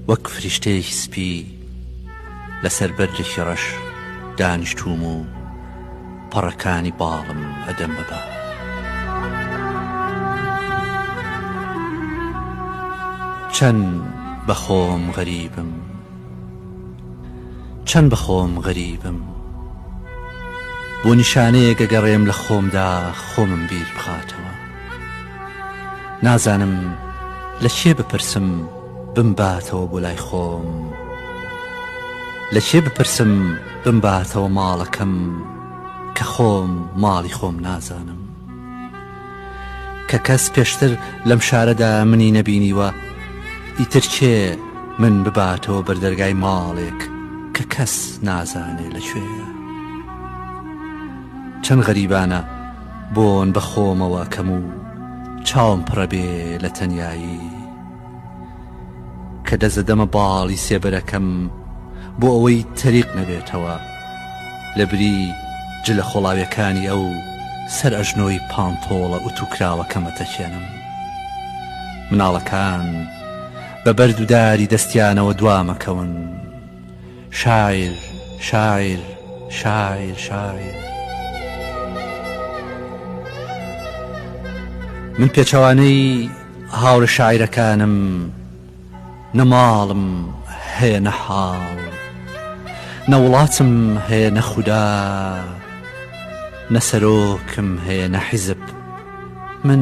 وەک فریشتەیەکی سپی لەسەر بەردێکی ڕەش دانیشتووم و پەڕەکانی باڵم ئەدەم بەبا چەند بەخۆم غەریبم چەند بەخۆم غەریبم بۆ نیشانەیە گەگەڕێم لە خۆمدا خۆمم بیر بخاتەوە نازانم لە کێ بپرسم بمباتەوە بۆ لای خۆم لە کێ بپرسم بمباتەوە ماڵەکەم کە خۆم ماڵی خۆم نازانم کە کەس پێشتر لەم شارەدا منی نەبینیوە ئیتر کێ من بباتەوە بەردەرگای ماڵێک کە کەس نازانێ لە کوێە چەند غەریبانە بۆن بە خۆمەوە ئەکەم و چاوم پڕە بێ لە تەنیایی کە دەزەدەمە باڵی سێبەرەکەم بۆ ئەوەی تەریق نەبێتەوە لە بری جلە خۆڵاویەکانی ئەو سەر ئەژنۆی پانتۆڵە ئوتوکراوەکەم ئەتەکێنم مناڵەکان بە بەرد و داری دەستیانەوە دوامەکەون شاعیر شاعیر شاعیر شاعیر. من پێچەوانەی هاوڕێ شاعیرەکانم نە ماڵم هەیە نە حاڵ نە وڵاتم هەیە نە خودا نە سەرۆکم هەیە نە حیزب من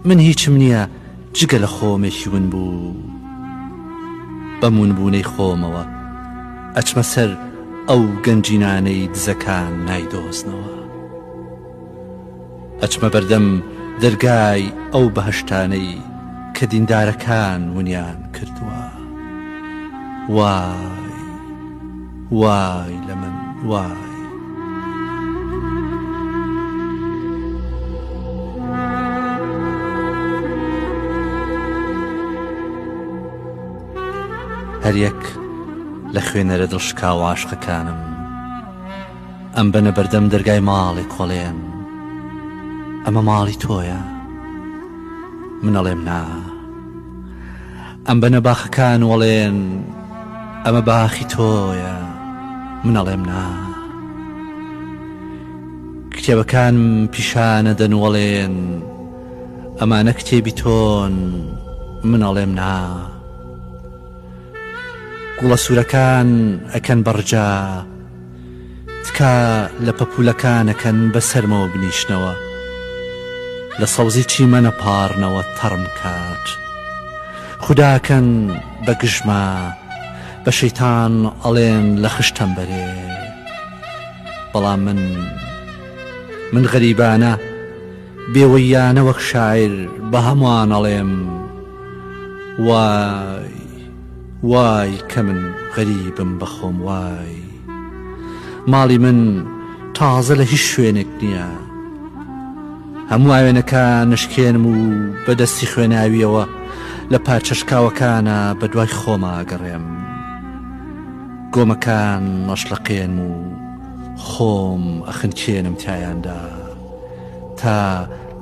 من هیچم نییە جگە لە خۆمێکی ونبوو بەم ونبوونەی خۆمەوە ئەچمە سەر ئەو گەنجینانەی دزەکان نایدۆزنەوە ئەچمە بەردەم دەرگای ئەو بەهەشتانەی کە دیندارەکان ونیان کردووە وە وای لە من وای. هەریەک لە خوێنەرە دڵشکاوە عاشقەکانم ئەم بەنە بەردەم دەرگای ماڵێ کۆڵێن ئەمە ماڵی تۆیە منەڵێم نا ئەم بنە باخەکان وەڵێن ئەمە باخی تۆیە منەڵێم نا کتێبەکان پیشانە دەنوەڵێن ئەمانە کتێبی تۆن منەڵێم نا گوڵە سوورەکان ئەکەن بەڕجا تکا لە پەپولەکان ئەکەن بە سەرمەوە بنیشنەوە لە سەوزی چیمەنە پاڕنەوە تەڕم کات خوداکەن بە گژما بە شەیتان ئەڵێن لە خشتەم بەرێ بەڵام من من غەریبانە بێوەییانە وەک شاعیر بە هەمووان ئەڵێم وای وای کە من غەریبم بە خۆم وای ماڵی من تازە لە هیچ شوێنێک نییە هەموو ئاوێنەکان نشکێنم و بە دەستی خوێناویەوە لە پارچەشکاوەکانە بە دوای خۆما گەڕێم گۆمەکان نەشلەقێنم و خۆم ئەخنکێنم تایاندا. تا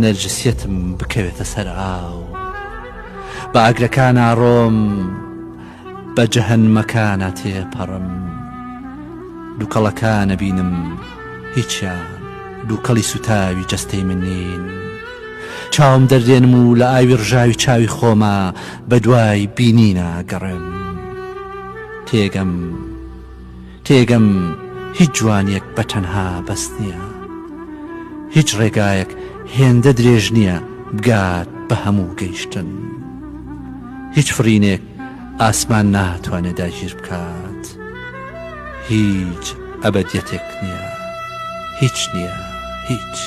نەرجسیەتم بکەوێتە سەر ئاو بە ئاگرەکان ئاڕۆم بە جەهنمەکانە تێپەڕم دووکەڵەکانە بینم هیچیان دووکەڵی سوتاوی جەستەی من نین چاوم دەردێنم و لە ئاوی ڕژاوی چاوی خۆمە بە دوای بینینە گەڕێم تێگەم تێگەم هیچ جوانیەک بە تەنها بەس نیە هیچ ڕێگایەک هێندە درێژ نیە بگات بە هەموو گەیشتن هیچ فڕینێک ئاسمان ناتوانێ داگیر بکات هیچ ئەبەدیەتێک نیە هیچ نیە هیچ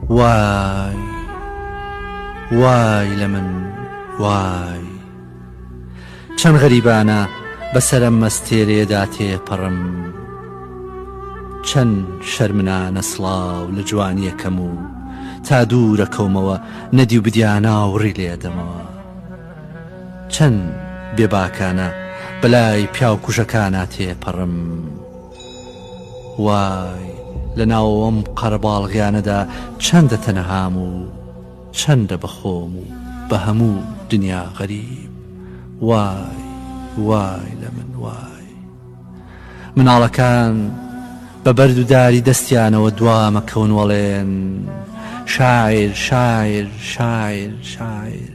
وای وای لە من وای چەند غەریبانە بەسەرم مەستێرێدا تێپەڕم چەند شەرمنانە سڵاو لە جوانیەکەم و تا دوورە کەومەوە نەدی و بدیانا وڕی لێدەمەوە چەند بێباکانە بەلای پیاوکوژەکانە تێپەڕم وای لە ناو ئەم قەرەباڵغیانەدا چەندە تەنەهام و چەندە بە خۆم و بە هەموو دنیا غەریب وای وای لە من وای مناڵەکان بە بەرد و داری دەستیانەوە دوامە کەونوەڵێن شاعر شاعر شاعر شاعر